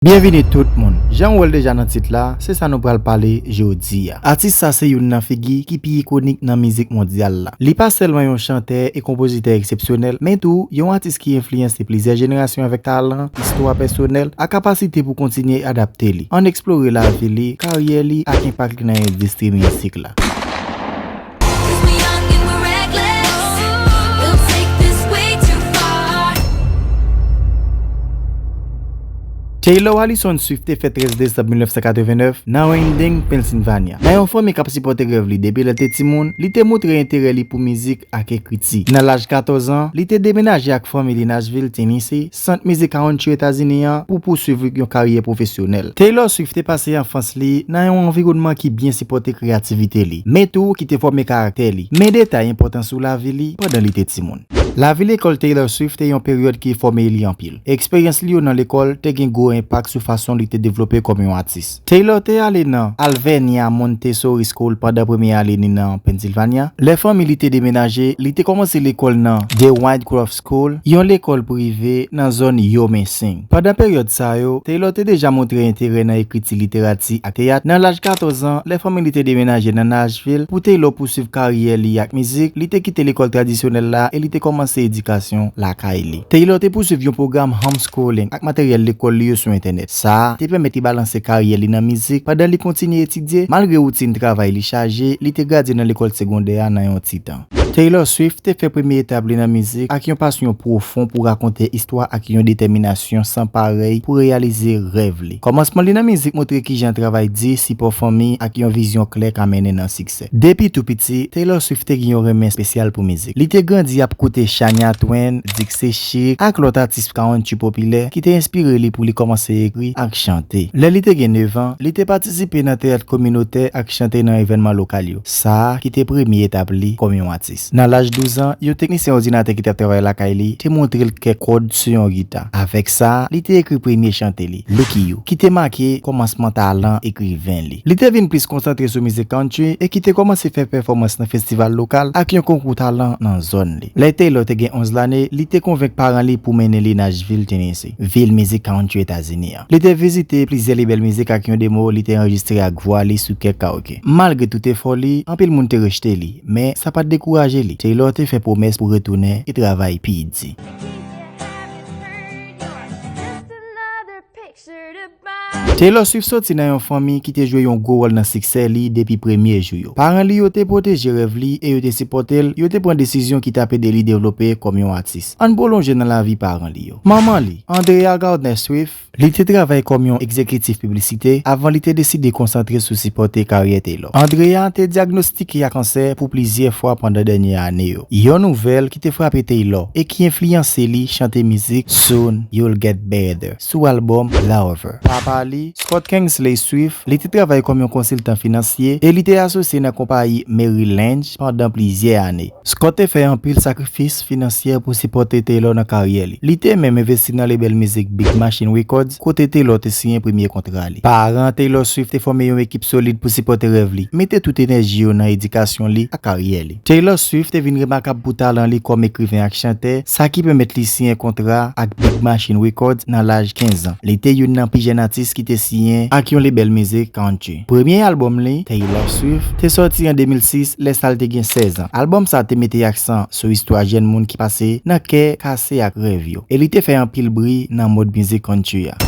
Byenvini tout moun! Jan ou wè l deja nan tit la, se sa nou pral pale jodi a. Atis sa se youn nan figi ki pi ikonik nan mizik mondyal la. Li pa sèlman yon chantè e konpozitè eksepsyonèl, men tou, yon atis ki enfliyanse plizyè jenerasyon avèk talan, istwa pèsonèl, ak kapasite pou kontinye adapte li. Ann eksplore lavi li, karyè li, ak enpak li nan endistri mizik la. Taylor Allison Swift te fèt 13 desanm 1989 nan Randing, Pennsylvania. Nan yon fanmi k ap sipòte rèv li depi lè l te timoun, li te montre enterè li pou mizik ak ekriti. Nan laj 14 an, li te demenaje ak fanmi li Nashville, Tennessee, sant mizik country Etazini an pou pouswiv yon karyè pwofesyonèl. Taylor Swift te pase anfans li nan yon anviwònman ki byen sipòte kreyativite li, men tou ki te fòme karaktè li, men detay enpòtan sou lavi li pandan li te timoun. Lavi lekòl Taylor Swift te yon peryòd ki fòme li anpil. Eksperyans li yo nan lekòl te gen gwo enpak sou fason li te devlope kòm yon atis. Taylor te ale nan Alvernia, Montessori School pandan premye ane ni nan Pennsylvania. Lè fanmi li te demenaje, li te kòmanse lekòl nan The Windcroft School, yon lekòl prive nan zòn Uomensing. Pandan peryòd sa yo, Taylor te deja montre enterè nan ekriti, literati, ak teyat. Nan laj 14 an, lè fanmi li te demenaje nan Nashville pou Taylor pousuiv karyè li ak mizik, li te kite lekòl tradisyonèl la e li te kòmanse edikasyon lakay li. Taylor te pousuiv yon pwogram home Schooling, ak materyèl lekòl li yo sou entènèt. Sa a te pèmèt li balanse karyè li nan mizik pandan li kontinye etidye. Malgre woutin travay li chaje, li te gradye nan lekòl segondè a nan yon ti tan. Taylor Swift te fè premye etap li nan mizik ak yon pasyon pwofon pou rakonte istwa ak yon detèminasyon san parèy pou reyalize rèv li. Kòmansman li nan mizik montre kijan travay di, sipò fanmi, ak yon vizyon klè ka mennen nan siksè. siksè. Depi tou piti, Taylor Swift te gen yon renmen espesyal pou mizik. Li te grandi ap koute Shania Twain, Dixie Chic, ak lòt atis kountry popilè ki te enspire li pou li kòmanse ekri ak chante. Lè li te gen nevan, li te patisipe nan teyat kominotè ak chante nan evènman lokal yo, sa ki te premye etap li kòm yon atis. Nan laj douzan, yon teknisyen òdinatè ki t ap travay lakay li te montre l kèk kòd sou yon gita. Avèk sa, li te ekri premye chante li, Lucky You, ki te make kòmansman talan ekriven li. Li te vin plis konsantre sou mizik country e ki te kòmanse fè pèfòmans nan festival lokal ak yon konkou talan nan zòn li. Lè Taylor te gen 11 lane, li te konvenk paran li pou mennen li Nashville, Tennessee, vil mizik country Etazini. Li te vizite plizyè lebèl mizik ak yon demo li te anrejistre ak vwa li sou kèk karaoke. Malgre tout efò li, anpil moun te rejte li, men sa pa t dekouraje li. Taylor te fè pwomès pou retounen e travay pi di. Taylor Swift soti nan yon fanmi ki te jwe yon gwo wòl nan siksè li depi premye jou yo. Paran li yo te pwoteje rèv li e yo te sipòte l, yo te pran desizyon ki t ap ede li devlope kòm yon atis. Ann pwolonje nan lavi paran li yo. Manman li, Andrea Gardner Swift, Li te travay kòm yon egzekitif piblisite avan li te deside konsantre sou sipòte karyè Taylor. Andrea te dyagnostike a kansè pou plizyè fwa pandan dènye ane yo, yon nouvèl ki te frape Taylor e ki enfliyanse li chante mizik Soon You'll Get Better sou albòm Lover. Papa li, Scott Kingsley Swift, Li te travay kòm yon konsiltan finansye e li te asosye nan konpayi Merrill Lynch pandan plizyè ane. Scott te fè anpil sakrifis finansyè pou sipòte Taylor nan karyè li. Li te menm envesti nan lebèl mizik Big Machine Records, kote Taylor te siyen premye kontra li. Paran Taylor Swift te fòme yon ekip solid pou sipòte rèv li, mete tout enèji yo nan edikasyon li ak karyè li. Taylor Swift te vin remakab pou talan li kòm ekriven ak chantè, sa ki pèmèt li siyen kontra ak Big Machine Records nan laj 15 an. Li te youn nan pi jèn atis ki te siyen ak yon lebèl mizik country. Premye albòm li, Taylor Swift, te sòti an 2006 lè sa l te gen 16 an. Albòm sa te mete aksan sou istwa jèn moun ki pase nan kè kase ak rèv yo, e li te fè anpil bri nan mond mizik country a.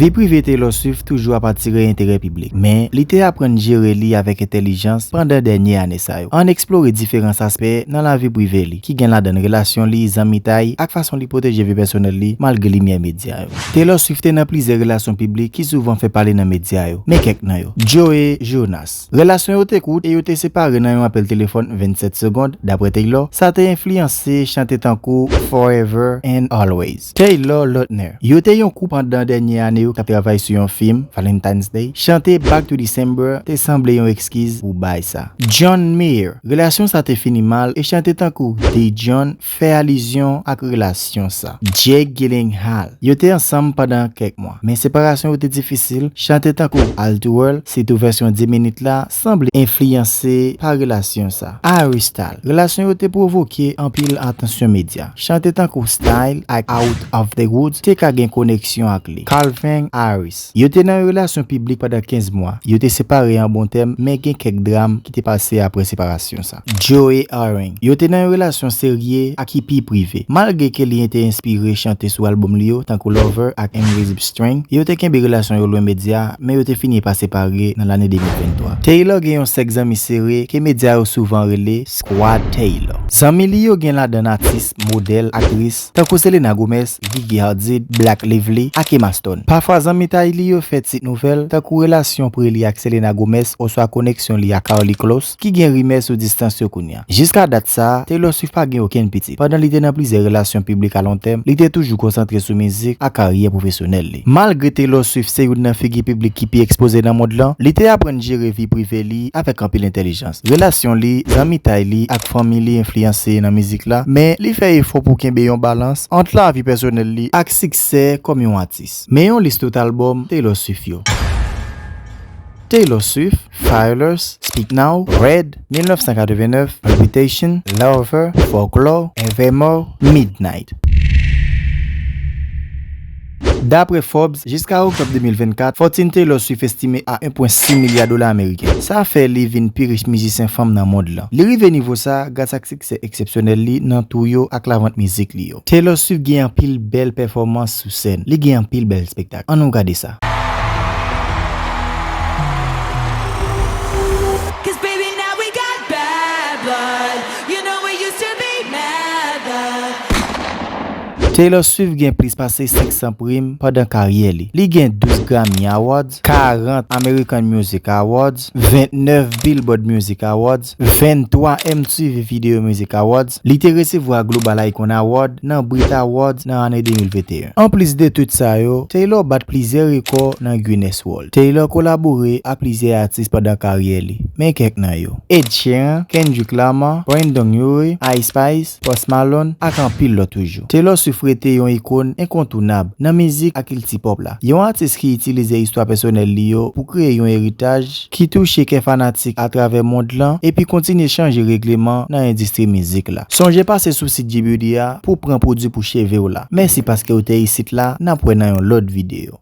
Vi prive Taylor Swift toujou ap atire enterè piblik, men li te aprann jere li avèk entèlijans pandan dènye ane sa yo. Ann eksplore diferans aspè nan lavi prive li, ki gen ladan relasyon li, zanmitay, ak fason li pwoteje vi pèsonèl li malgre limyè medya yo. Taylor Swift te nan plizyè relasyon piblik ki souvan fè pale nan medya yo. Men kèk nan yo. Joe Jonas. Relasyon yo te kout e yo te separe nan yon apèl telefòn 27 segond, dapre Taylor, sa te enfliyanse chante tankou Forever and Always. Taylor Lautner. Yo te yon koup pandan dènye ane yo k ap travay sou yon fim, Valentine's Day. Chante Back to December te sanble yon ekskiz pou bay sa. John Mayer. Relasyon sa te fini mal e chante tankou Did John. fè alizyon ak relasyon sa. Jake Gyllenhaal Yo te ansanm pandan kèk mwa, men separasyon yo te difisil. Chante tankou All Too Well, sitou vèsyon 10 minit la, sanble enfliyanse pa relasyon sa. Harry Styles Relasyon yo te pwovoke anpil atansyon medya. Chante tankou Style ak Out Of The Woods te ka gen koneksyon ak li. Calvin Harris Yo te nan yon relasyon piblik pandan 15 mwa. Yo te separe an bon tèm, men gen kèk dram ki te pase apre separasyon sa. Joe Arang. Yo te nan yon relasyon serye ak hippie prive. Malgre ke li te enspire chante sou albòm li yo, tankou Lover ak Invisible String, yo te kenbe relasyon yo lwen medya, men yo te fini pa separe nan lane 2023. Taylor gen yon sèk zanmi sere ke medya yo souvan rele Squad Taylor. Zanmi li yo gen ladann atis, modèl, aktris, tankou Selena Gomez, Gigi Hadid, Blake Lively, ak Emma Stone. Pafwa zanmitay li yo fè tit nouvèl, tankou relasyon pre li ak Selena Gomez oswa koneksyon li ak Karlie Kloss. ki gen rimè sou distans yo kounya. Jiska dat sa a, Taylor Swift pa gen okenn pitit. Pandan li te nan plizyè relasyon piblik alontèm, li te toujou konsantre sou mizik ak karyè pwofesyonèl li. Malgre Taylor Swift se youn nan figi piblik ki pi ekspoze nan mond lan, li te aprann jere vi prive li avèk anpil entèlijans. Relasyon li, zanmitay li, ak fanmi li enfliyanse nan mizik la, men li fè efò pou kenbe yon balans ant lavi pèsonèl li ak siksè kòm yon atis. Men yon lis tout albòm Taylor Swift yo. Taylor Swift. Fayolous, Speak Now, Red, 1989, Reputation, Lover, Folklore, Evermore, Midnight. Dapre Forbes, jiska oktòb 2024, fòtin Taylor Swift estime a 1.6 milya dola ameriken. Sa fè li vin pi rich mizisyen fanm nan mond lan. Li rive nivo sa a gras ak siksè eksepsyonèl li nan tou yo ak lavant mizik li yo. Taylor Swift gen anpil bèl pèfòmans sou sèn, li gen anpil bèl spektak. An nou gade sa. Taylor Swift gen plis pase 500 prim pandan karyè li. Li gen 12 Grammy Awards, 40 American Music Awards, 29 Billboard Music Awards, 23 mtv Video Music Awards, li te resevwa Global Icon Award nan Brit Awards nan ane 2021. Anplis de tout sa yo, Taylor bat plizyè rekò nan Guinness World. Taylor kolabore ak plizyè atis pandan karyè li. Men kèk nan yo, Ed Sheeran, Kendrick Lamar, Brendon Urie, Ice Spice, Post Malone, ak anpil lòt toujou. Taylor Swift rete yon ikon enkontounab nan mizik ak kilti pop la. Yon atis ki itilize istwa pèsonèl li yo pou kreye yon eritaj, ki touche kè fanatik atravè mond lan epi kontinye chanje regleman nan endistri mizik la. Sonje pase sou sit JBeauty a pou w pran pwodwi pou cheve w la. Mèsi paske ou te isit la, n ap wè nan yon lòt videyo.